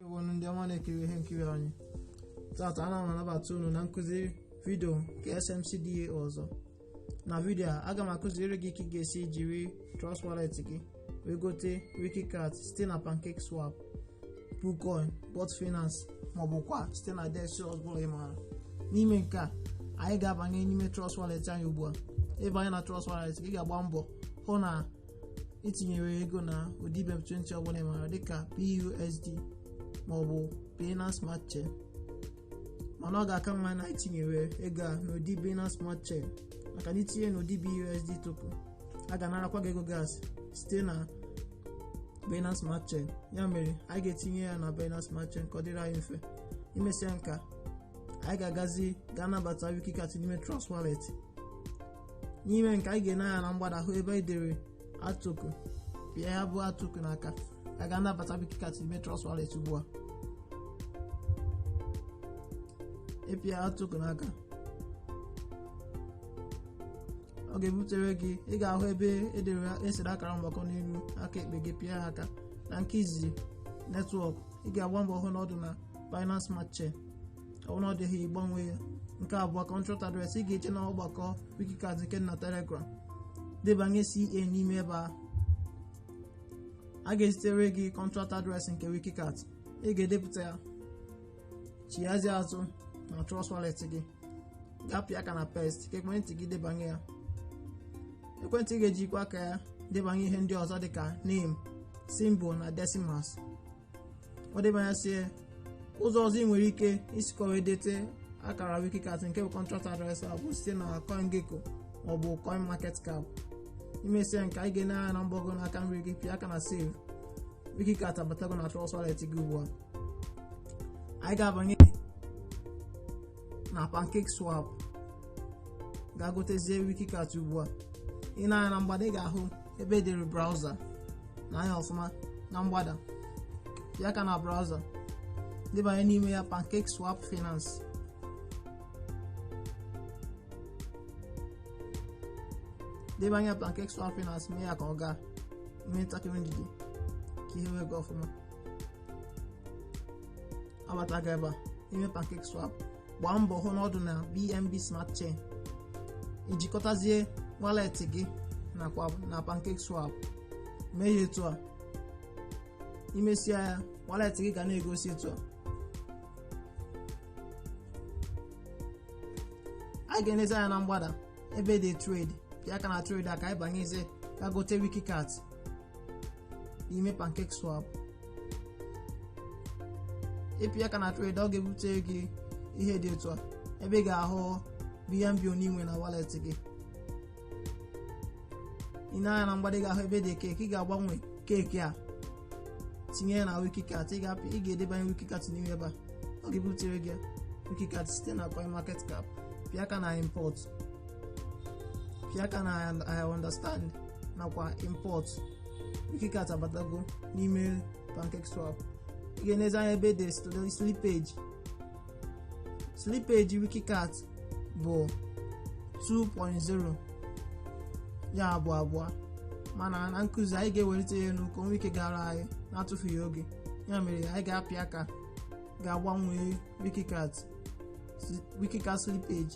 ewonu ndị ọma na-ekiri ihe nkiri anyị tata ana m anabata unu na nkụzi vidio nke SMC DAO ọzọ na vidio a aga m akụziri gị ka ị ga-esi jiri Trust Wallet gị wee gote Wikicat site na Pancake Swap Poocoin Bogged Finance maọbụ kwa site na DEX ọbụla ị maara n'ime nke a anyị ga-abanye n'ime Trust Wallet anyị ugbu a ịbanye na Trust Wallet gị ga-agba mbọ hụ na itinyere ego na ụdị BEP20 ọbụla ị maara dịka BUSD maọbụ Binance Smart Chain mana ọ ga-aka mma na itinyere ego a n'ụdị Binance Smart Chain maka na itinye n'ụdị BUSD token a ga-anarakwa gị ego gas site na Binance Smart Chain ya mere anyị ga-etinye ya na Binance Smart Chain ka ọ dịrị anyị mfe imesịa nke a anyị ga-agazi gaa nabata Wikicat n'ime Trust Wallet n'ime nke a anyị ga-ene anya na mgbada hụ ebe edere add token pịa ya bụ add token aka a ga-anabata Wikicat ime Trust Wallet ugbu a ịpịa add token aka ọ ga-ebutere gị ị ga-ahụ ebe edere esere akara mgbakọ n'elu aka ekpe gị pịa ya aka na nke izizi netwọk ị ga-agba mbọ hụ na ọ dị na Binance Smart Chain ọ bụrụ na ọ dịghị ịgbanwe ya nke abụọ contract address ị ga-eje na ọgbakọ wikicat nke dị na telegram debanye CA n'ime ebe a a ga-ezitere gị contract address nke wikicat ị ga-edepụta ya chighazie azụ na trust wallet gị gaa pịa aka na paste ka ekwentị gị debanye ya ekwentị ga-ejikwa aka ya debanye ihe ndị ọzọ dịka name symbol na decimals ọ debanyesịa ụzọ ọzọ ị nwere ike isikwa wee dete akara wikicat nke bụ contract address a bụ site na CoinGecko maọbụ CoinMarketCap imesịa nke a anyị ga-ene anya na mgbago n'aka nri gị pịa aka na save wikicat abatago na Trust Wallet gị ugbu a anyị ga-abanye na pancake swap gaa gotezie wikicat ugbu a ị nee anya na mgbada ị ga-ahụ ebe edere browser nee anya ọfụma na mgbada pịa aka na browser debanye n'ime ya pancake swap finance debanye pancake swap finance mee ya ka ọ gaa nwee ntakịrị ndidi ka ihe wee gaa ọfụma abatago ebe a ime pancake swap gbaa mbọ hụ na ọ dị na bnb smart chain ijikọtazie wallet gị nakwa na pancake swap mee ya etu a imesịa ya wallet gị ga na-egosi etu a anyị ga-enezi anya na mgbada ebe edere trade pịa aka na trade a ka anyị banyezie gaa gote wikicat n'ime pancake swap ị pịa aka na trade ọ ga-ebute gị ihe dị etu a ebe ị ga-ahụ bnb one i nwe na wallet gị i nee anya na mgbada ị ga-ahụ ebe e dere cake ị ga-agbanwe cake a tinye ya na wikicat ị ga-apị ị ga-edebanye wikicat n'ime ebe a ọ ga-ebutere gị wikicat site na coin market cap pịa aka na import pịa aka na i understand nakwa import wikicat abatago n'ime pancake swap ị ga-enezi anya ebe e dere slippage slippage wikicat bụ 2.0 ya bụ abụọ mana na nkụzi anyị ga-ewelite ya enu ka o nwee ike gara anyị n'atụfughị oge ya mere anyị ga-apịa aka ga-agbanwe wikicat slippage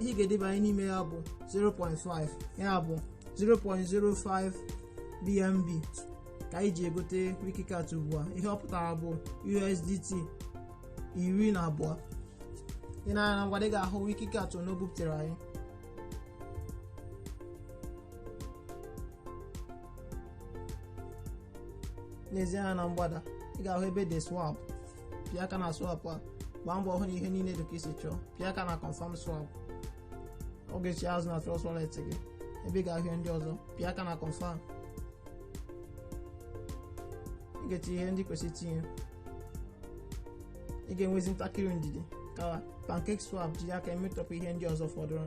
ihe ị ga-edebanye n'ime ya bụ 0.5 ya bụ 0.05 bnb ka anyị ji egote wikicat ugbu a ihe ọ pụtara bụ usdt iri na abụọ i nee anya na mgbada ị ga-ahụ wikicat one o bupụtara anyị nezie anya na mgbada ị ga-ahụ ebe e dere swap pịa aka na swap a gbaa mbọ hụ na ihe niile dị ka i si chọọ pịa aka na confirm swap ọ ga-echigha azụ na trust wallet gị ebe ị ga-ahụ ihe ndị ọzọ pịa aka na confirm ị ga-etinye ihe ndị kwesịrị itinye ị ga-enwezi ntakịrị ndidi ka pancake swap jiri aka emetọpụ ihe ndị ọzọ fọdụrụ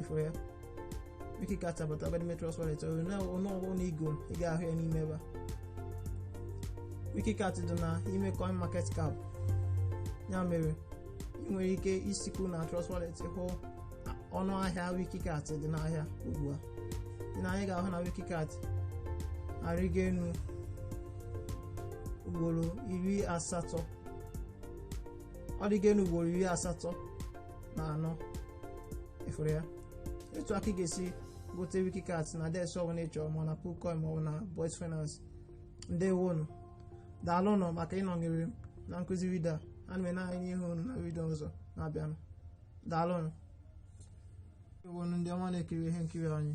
ị fụrụ ya wikicat abata ebe a n'ime trust wallet ọnụọgụ one i goro ị ga-ahụ ya n'ime ebe a wikicat dị na ime coin market cap ya mere ị nwere ike isikwu na trust wallet hụ ọnụ ahịa wikicat dị n'ahịa ugbu a i nee anya ị ga-ahụ na wikicat arịgo enu ugboro iri asatọ ọ rịgo enu ugboro iri asatọ na anọ ị fụrụ ya etu a ka ị ga-esi gote wikicat na dex ọbụla ị chọrọ ma na poocoin ma ọ bụ na bogged finance ndewonụ daalụnụ maka ịnọnyere m na nkụzi vidio a ana m ene anya ịhụ unu na vidio ọzọ na-abịanụ daalụnụ unu ndị ọma na-ekiri ihe nkiri anyị